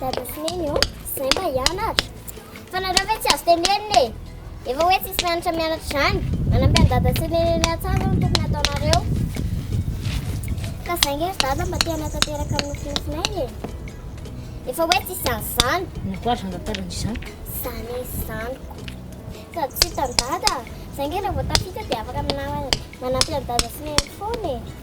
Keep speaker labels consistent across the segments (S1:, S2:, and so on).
S1: Dada sy neny ô, zay mba hianatra. Fa nareo ve tsy azo tenenina e. Efa hoe tsisy mianatra mianatra izany. Manampy an'i dada sy neny eny an-tsaha zao no tokony ataonareo. Ka zay nge ry dada mba te hanatanteraka ny nofinofinay e. Efa hoe tsisy izany izany. Inona koa ary no andatarana izany? Izany eny izany. Sady tsy hitan'i dada. Zay nge raha vao tafita dia afaka manampy an'i dada sy neny foana e.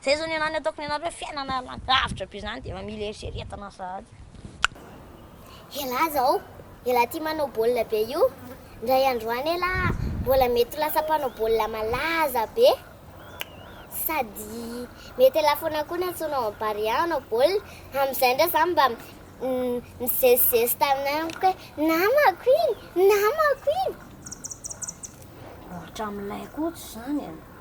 S1: Zay zao ny anah ny ataoko ny anareo fiainana lavitra be zany dia efa mila eritreretana sahady. Elah zao elah ty manao baolina be io ndray andro any elah mbola mety ho lasa mpanao baolina malaza be sady mety elah foana koa ny antsoina ao am barea hanao baolina amizay ndray za mba mizezizezi taminay amiko hoe namako iny namako iny hatramilay koa tsy zany e.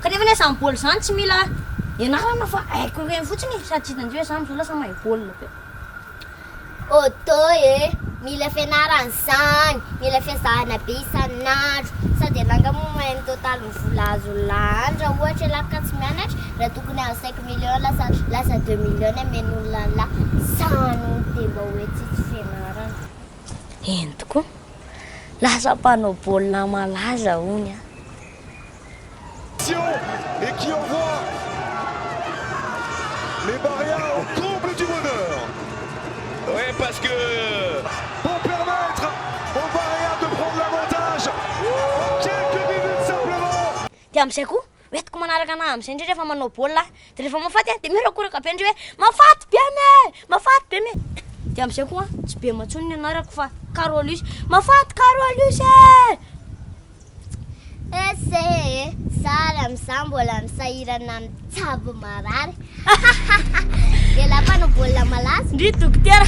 S1: Kanefa anie izany baolina izany tsy mila ianarana fa haiko ireny fotsiny e, sady tsy tadidio hoe za amin'izao lasa mahay baolina be. Odo e! Mila fianarana izany, mila fiezahana be isan'andro. Sao dia langa moa mahay ny totalin'ny vola azo lany raha ohatra ialahy ka tsy mianatra, raha tokony hahazo cinq millions lasa lasa deux millions ny amen'olona ny lahy. Izany hono dia mba hoe tsy tsy fianarana. Eny tokoa. Lasa mpanao baolina malaza hono aho. Dia amin'izay koa, hoentiko manaraka anah amin'izay indray rehefa manao baolina aho. de rehefa mafaty a de mirakoraka be ndry hoe mafaty be me mafaty be me de amizay koa tsy be matsony ny anarako fa carolus mafaty carolus e ese e sary amizah mbola misahirana mitsabo marary de la panao baolina malaza ndry dokotera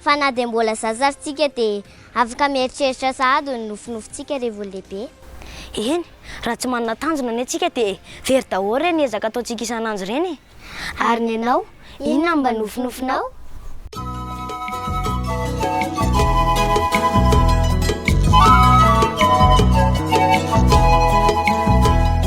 S1: Fa na dia mbola zaza ary tsika dia afaka mieritreritra sahady ny nofinofintsika revo lehibe. Eny, raha tsy manana tanjona anie tsika dia very daholo ireny ezaka ataontsika isan'andro ireny e! Ary ny anao, inona no mba nofinofinao?